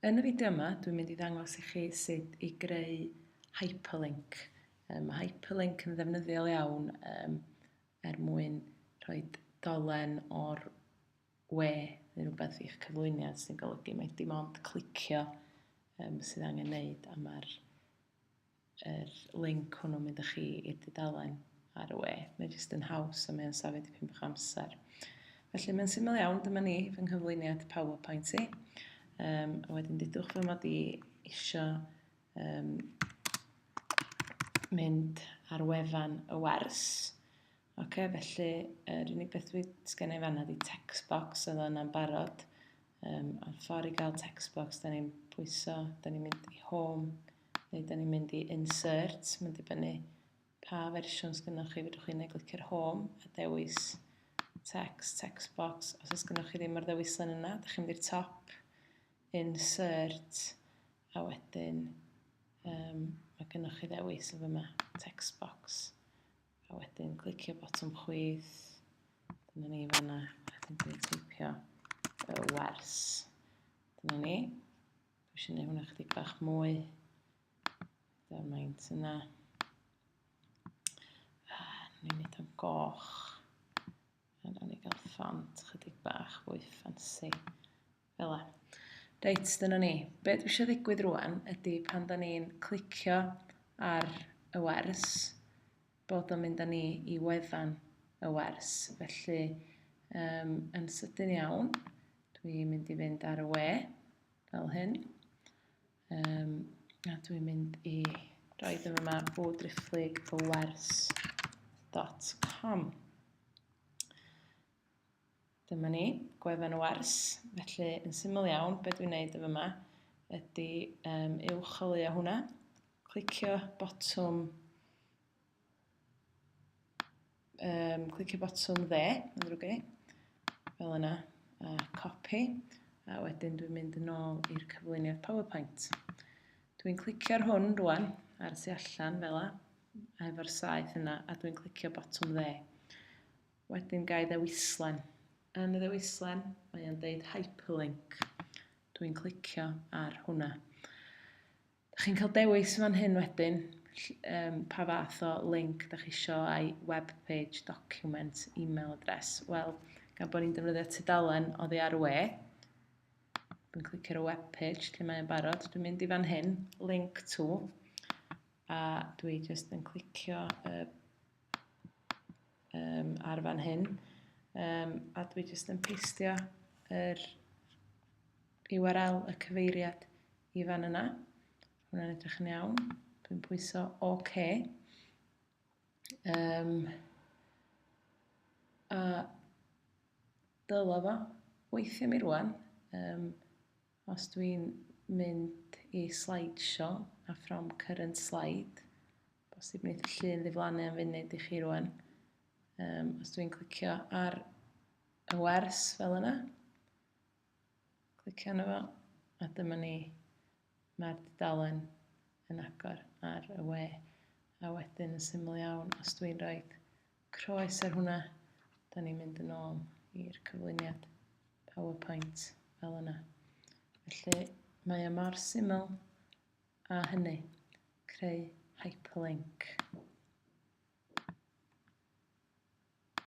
Yn y fideo yma, dwi'n mynd i ddangos i chi sut i greu hyperlink. Um, mae hyperlink yn ddefnyddiol iawn um, er mwyn rhoi dolen o'r we neu rhywbeth i'ch cyflwyniad sy'n golygu mae dim ond clicio um, sydd angen wneud a mae'r yr link hwnnw mynd â chi i'r dudalen ar y we. Mae'n jyst yn haws a mae'n safio dipyn bach amser. Felly mae'n syml iawn, dyma ni fy nghyflwyniad PowerPoint i. Um, a wedyn dydwch fy mod i eisiau um, mynd ar wefan y wers. Ok, felly yr er unig beth dwi'n sgen i fanna di text box oedd yna'n barod. Um, a'r ffordd i gael text box, da ni'n pwyso, da ni'n mynd i home, Neu da ni'n mynd i insert, mae'n dibynnu pa fersiwn sgynnoch chi, fedrwch chi neu glicio'r home a dewis text, text box. Os oes gynnoch chi ddim ar ddewislen yna, da chi'n mynd i'r top, insert, a wedyn um, mae gynnoch chi ddewis yn fyma, text box. A wedyn clicio botwm chwith, dyna ni fanna, a wedyn dwi'n teipio y wers. Dyna ni. Dwi eisiau gwneud hwnna chdi bach mwy. Dyna maint yna. Ah, ni'n gwneud o'n goch. A nawn ni gael ffant chydig bach fwy ffansi. Fel la. Reit, dyna ni. Be dwi eisiau ddigwydd rwan ydy pan da ni'n clicio ar y wers, bod o'n mynd â ni i wefan y wers. Felly, um, yn sydyn iawn, dwi'n mynd i fynd ar y we, fel hyn. Um, a dwi'n mynd i roi ddim yma o driphlyg y wers.com. Dyma ni, gwefan y wers. Felly, yn syml iawn, beth dwi'n neud yn fyma ydy um, uwcholeuo hwnna, clicio botwm um, clicio botwm dde, yn ddrwg i, fel yna, a copy, a wedyn dwi'n mynd yn ôl i'r cyflwyniad PowerPoint. Dwi'n clicio'r hwn rwan, ar y tu allan, fel yna, efo'r saeth yna, a dwi'n clicio botwm dde. Wedyn ga'i ddewislen. Yn y ddewislen, mae o'n deud hyperlink. Dwi'n clicio ar hwnna. Da chi'n cael dewis fan hyn wedyn um, pa fath o link da chi isio ai web page, document, email address. Wel, gan bod ni'n defnyddio tudalen o ddi ar we, dwi'n clicio ar y web page lle mae'n barod. Dwi'n mynd i fan hyn, link to, a dwi jyst yn clicio y uh, um, ar fan hyn. Um, a dwi jyst yn peistio yr URL, y cyfeiriad i fan yna. Hwna'n edrych yn iawn. Dwi'n pwyso OK. Um, a dylo fo weithio mi rwan. Um, os dwi'n mynd i slideshow a from current slide, Bosib wneith y llun ddiflannu am funud i chi rwan. Um, os dwi'n clicio ar y wers fel yna, clicio yna fo, a dyma ni, mae'r dudalen yn agor ar y we. A wedyn yn syml iawn, os dwi'n rhoi croes ar hwnna, da ni'n mynd yn ôl i'r cyflwyniad PowerPoint fel yna. Felly mae o mor syml â hynny, creu hyperlinc.